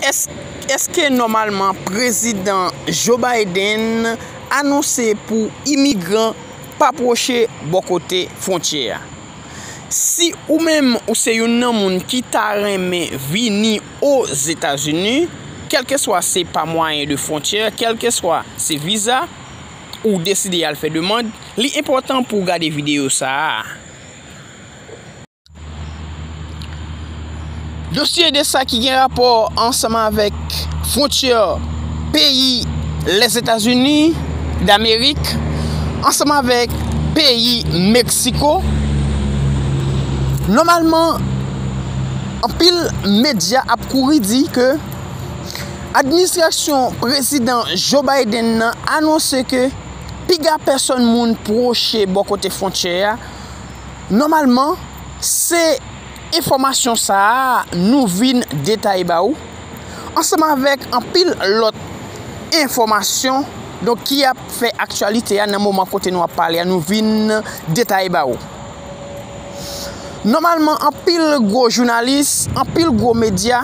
Eske nòmalman Prezidan Joe Biden anonse pou imigran pa pwoche bò kote fwontyè a? Si ou menm ou se youn nan moun ki ta renmen vini Ozetazini, kèlkeswa se pa mwayen de fwontyè, kèlkeswa se viza ou deside al fè demand, li enpòtan pou w gade videyo sa a. Dosye de sa ki gen rapò ansanm avèk fwontyè peyi Lèzetazini Damerik ansanm avèk peyi Meksiko, nòmalman anpil medya ap kouri di ke administrasyon prezidan Joe Biden nan anonse ke piga pèsòn moun pwoche bò kote fwontyè a. Nòmalman se enfòmasyon sa a nou vin detaye ba ou ansanm avèk anpil lòt enfòmasyon donk ki ap fè aktyalite a nan moman kote nou ap pale a nou vin detaye ba ou. Nòmalman anpil gwo jounalis, anpil gwo medya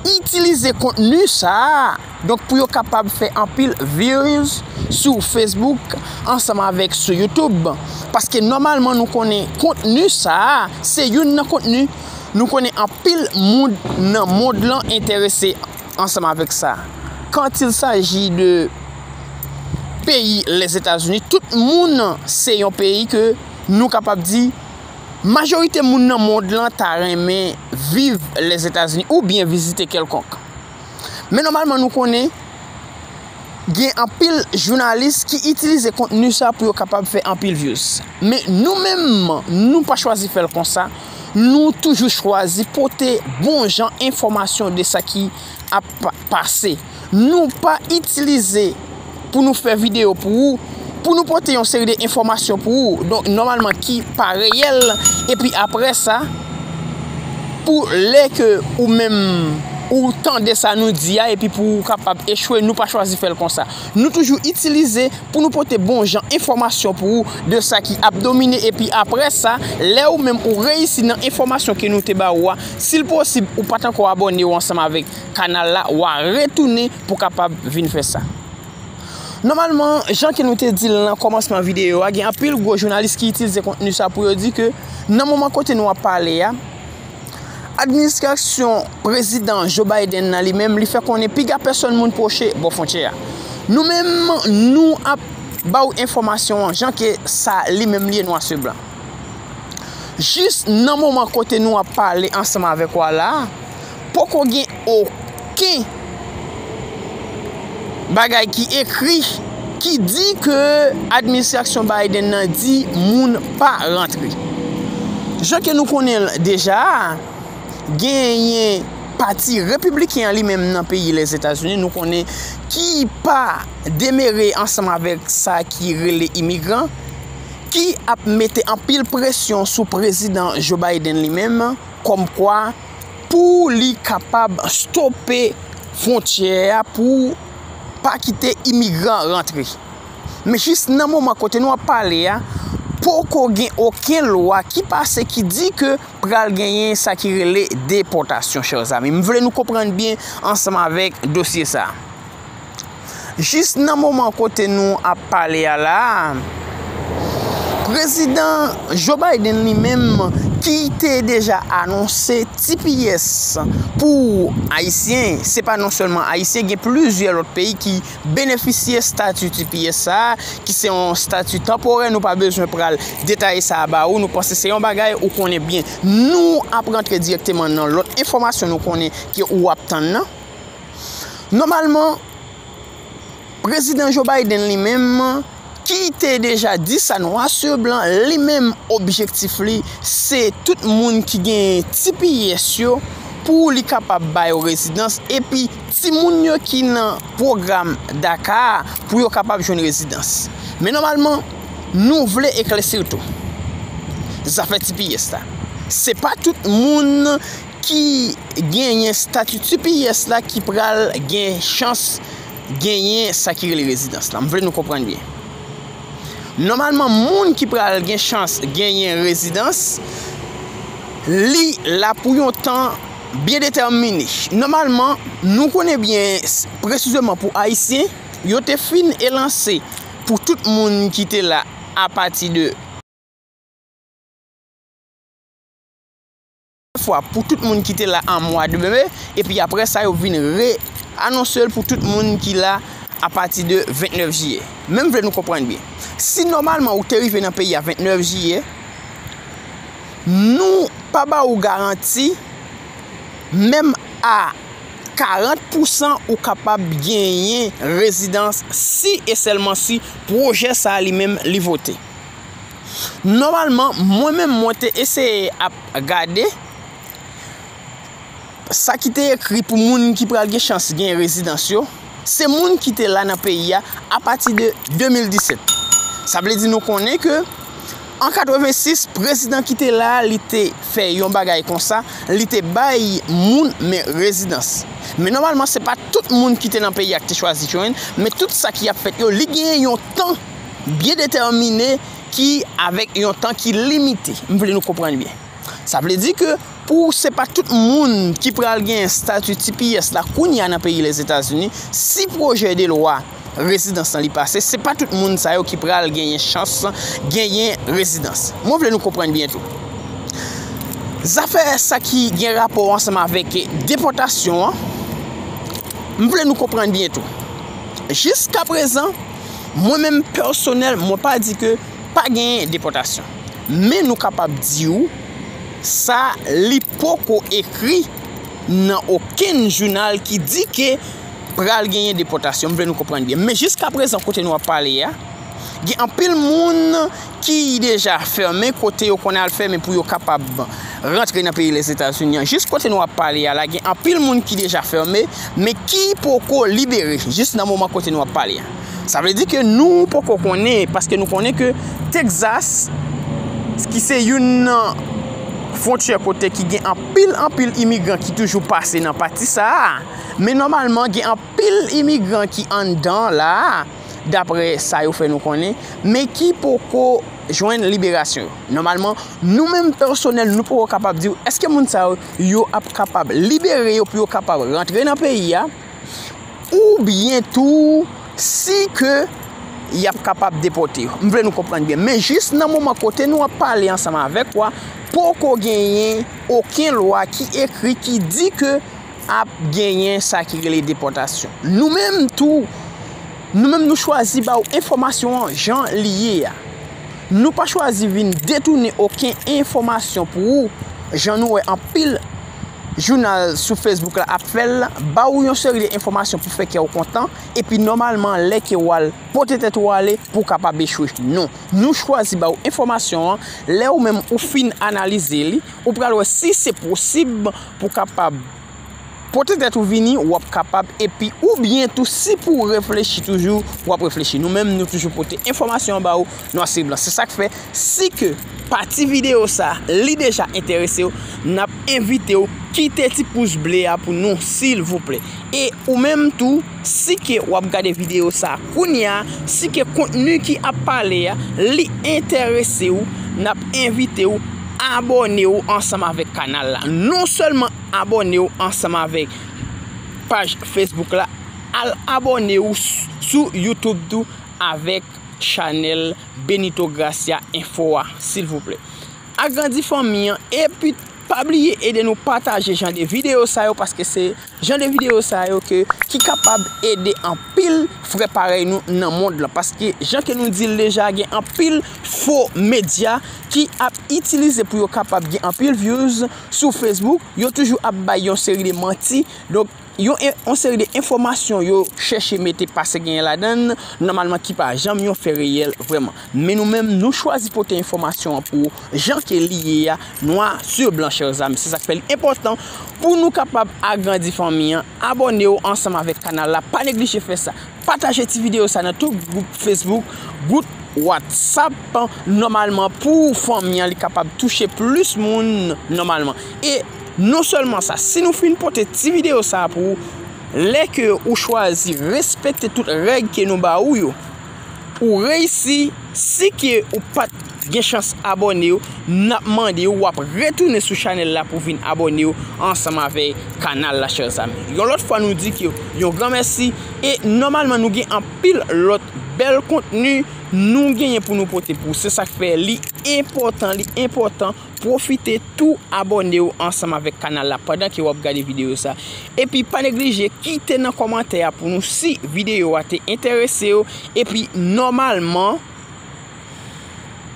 itilize kontni sa a. Donk pou yo kapab fè anpil views sou Facebook ansanm avèk sou YouTube. Paske nòmalman nou konnen kontni sa a se youn nan kontni nou konnen anpil moun nan mond lan enterese ansanm avèk sa. Kant il saji de peyi Lèzetazini, tout moun se yon peyi ke nou kapab di majorite moun nan mond lan ta renmen viv Lèzetazini oubyen vizite kèlkonk. Men nòmalman nou konnen gen anpil jounalis ki itilize kontni sa pou yo kapab fè anpil vyouz. Men nou menm nou pa chwazi fèl konsa, nou toujou chwazi pote bon jan enfòmasyon de sa ki ap pase. Nou pa itilize. pou nou fè videyo pou ou, pou nou pote yon seri de enfòmasyon pou ou, donk nòmalman ki pa reyèl, epi apre sa, pou lè ke ou menm ou tande sa nou di a, epi pou ou kapab echwe, nou pa chwazi fè l konsa. Nou toujou itilize pou nou pote bon jan enfòmasyon pou ou de sa ki ap domine, epi apre sa, lè ou menm ou reyisi nan enfòmasyon ke nou te ba ou a, si l posib ou pa t ankò abòne ou ansanm avèk. kanal la wa retounen pou kapab vin fè sa. Nòmalman, jan ke nou te di l nan kòmansman videyo a, gen anpil gwo jounalis ki itilize kontni sa pou yo di ke nan moman kote nou ap pale a, administrasyon prezidan Joe Biden nan li menm li fè konnen piga pèsòn moun pwoche bò fwontyè a. Nou menm, nou ap ba ou enfòmasyon an jan ke sa li menm li ye nwa su blan. Jis nan moman kote nou ap pale ansanm avèk ou a la a, poko gen oken bagay ki ekri ki di ke administrasyon Biden nan di moun pa rantre. Jan ke nou konnen l deja a, genyen pati repibliken an li menm nan peyi Lèzetazini nou konnen ki pa demere ansanm avèk sa ki rele imigran, ki ap mete anpil presyon sou prezidan Joe Biden li menm kòm kwa pou li kapab stope fwontyè a pou pa kite imigran rantre. Men jis nan moman kote nou ap pale a, poko gen oken lwa ki pase ki di ke pral genyen sa ki rele depòtasyon chèr zami. M vle nou konprann byen ansanm avèk dosye sa. Jis nan moman kote nou ap pale a la a, Prezidan Joe Biden li menm ki te deja anonse tps pou Ayisyen, se pa non sèlman Ayisyen, gen plizyè lòt peyi ki benefisye stati tps sa a, ki se yon stati tanporè, nou pa bezwen pral detaye sa a ba ou, nou panse se yon bagay ou konnen byen. Nou ap rantre dirèkteman nan lòt enfòmasyon nou konnen ke ou ap tann nan. Nòmalman, Prezidan Joe Biden li menm, ki te deja di sa nwa sou blan, li menm objektif li se tout moun ki genyen tps yo pou li kapab ba yo rezidans epi timoun yo ki nan pwogram DACA a pou yo kapab jwenn rezidans. Men nòmalman, nou vle eklèsi w tou. Zafè tps la, se pa tout moun ki genyen stati tps la ki pral gen chans genyen sa ki rele rezidans la. M vle nou konprann byen. Nòmalman, moun ki pral gen chans genyen rezidans, li la pou yon tan byen detèmine. Nòmalman, nou konnen byen, presizeman pou Ayisyen, yo te fin elanse pou tout moun ki te la apati de. Yon fwa pou tout moun ki te la an mwa de me, epi apre sa yo vin re anonse l pou tout moun ki la apati de 29 jiyè. Men m vle nou konprann byen. Si nòmalman ou te rive nan peyi a 29 jiyè, nou pa ba ou garanti menm a 40 pousan ou kapab genyen rezidans si e sèlman si pwojè sa li menm li vote. Nòmalman mwen menm mwen te eseye ap gade sa ki te ekri pou moun ki pral gen chans gen rezidans yo, se moun ki te la nan peyi a apati de 2017. Sa vle di nou konnen ke an 86 prezidan ki te la li te fè yon bagay konsa, li te bay moun men rezidans. Men nòmalman se pa tout moun ki te nan peyi a ki te chwazi jwenn, men tout sa ki ap fèt yo li gen yon tan. byen detèmine ki avèk yon tan ki limite. M vle nou konprann byen. Sa vle di ke pou se pa tout moun ki pral gen stati tps la kounye a nan peyi Lèzetazini, si pwojè de lwa rezidans lan li pase, se pa tout moun sa yo ki pral genyen chans genyen rezidans. Mwen vle nou konprann byen tou. Zafè sa ki gen rapò ansanm avèk depòtasyon an, m vle nou konprann byen tou. Jiska prezan. Mwen menm pèsonèl mwen pa di ke pa genyen depòtasyon. Men nou kapab di ou sa li poko ekri nan okenn jounal ki di ke pral genyen depòtasyon. M vle nou konprann byen. Men jiskaprezan kote nou ap pale a, gen anpil moun ki deja fèmen kote yo konn al fèmen pou yo kapab rantre nan peyi Lèzetazini an. Jis kote nou ap pale a la gen anpil moun ki deja fèmen men ki poko libere jis nan moman kote nou ap pale a. Sa vle di ke nou poko konnen paske nou konnen ke Texas ki se youn nan fwontyè kote ki gen anpil anpil imigran ki toujou pase nan pati sa a men nòmalman gen anpil imigran ki anndan la a. dapre sa yo fè nou konnen, men ki poko jwenn liberasyon yo. Nòmalman, nou menm pèsonèl nou poko kapab di ou eske moun sa yo ap kapab libere yo pou yo kapab rantre nan peyi a, oubyen tou si ke y ap kapab depòte yo. M vle nou konprann byen. Men jis nan moman kote nou ap pale ansanm avèk ou a, poko genyen oken lwa ki ekri ki di ke ap genyen sa ki rele depòtasyon. Nou menm tou, nou menm nou chwazi ba ou enfòmasyon an jan li ye a. Nou pa chwazi vin detounen oken enfòmasyon pou ou, jan nou wè anpil jounal sou Facebook la ap fè l la, ba ou yon seri de enfòmasyon pou fè kè ou kontan, epi nòmalman lè ke ou al pote tèt ou ale pou ou kapab echwe. Non, nou chwazi ba ou enfòmasyon an, lè ou menm ou fin analize li, ou pral wè si se posib, Pou w kapab pote tèt ou vini, w ap kapab epi oubyen tou si pou w reflechi toujou, w ap reflechi. Nou menm nou toujou pote enfòmasyon an ba ou nwa sou blan. Se sa k fè, si ke pati videyo sa a li deja enterese w, n ap envite w kite ti pous ble a pou nou silvouplè. E ou menm tou, Si ke wap gade video sa kounya, si ke kontni ki ap pale a li enterese ou, nap envite ou abòne ou ansanm avèk kanal la. Non sèlman abòne ou ansanm avèk paj Facebook la, al abòne ou sou YouTube tou avèk chanèl Benito Gracia Info a silvouplè. Agrandi fanmi an epi pa bliye ede nou pataje jan de video sa yo paske se Jan de video sa yo ke ki kapab ede anpil frè parèy nou nan mond lan paske jan ke nou dil deja gen anpil fo medya ki ap itilize pou yo kapab gen anpil vyouz sou facebook yo toujou ap bay yon seri de manti donk yon seri de enfomasyon yo chèche mete pase genyen ladann nòmalman ki pa janm yon fè reyèl vrèman. Men nou menm nou chwazi pote enfòmasyon an pou ou jan ke li ye a, nwa sur blan chèrs amis. Se sak fè li enpòtan pou nou kapab agrandi fanmi an. Abòne ou ansanm avèk kanal la, pa neglije fè sa. Pataje ti videyo sa nan tout gwoup Facebook, gwoup WhatsApp nòmalman pou fanmi an li kapab touche plis moun nòmalman. E non sèlman sa, si nou fin pote ti videyo sa pou ou, lè ke ou chwazi respekte tout règ ke nou ba ou yo, Ou reyisi si ke ou pat gen chans abòne yo nap mande ou wap retounen sou chanèl la pou vin abòne yo ansanm avèk kanal la chèr zanmi yon lòt fwa nou di ke yon gran mèsi e nòmalman nou gen anpil lòt bèl kontni nou genyen pou nou pote pou se sak fè li enpòtan li enpòtan Pwofite tou abòne w ansanm avèk kanal la pandan ke wap gade videyo sa. Epi pa neglije kite nan kòmantè a pou nou si videyo a te enterese w epi nòmalman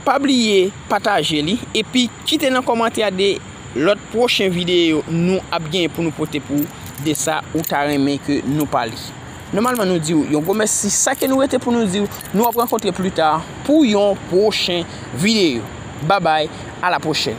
pa bliye pataje li epi kite nan kòmantè a de lòt pwochen videyo nou ap gen pou nou pote pou de sa ou ta renmen ke nou pale. Nòmalman nou di ou yon gwo mèsi sa ke nou rete pou nou di ou nou ap rankontre pli ta pou yon pwochen videyo babay a la pwochèn.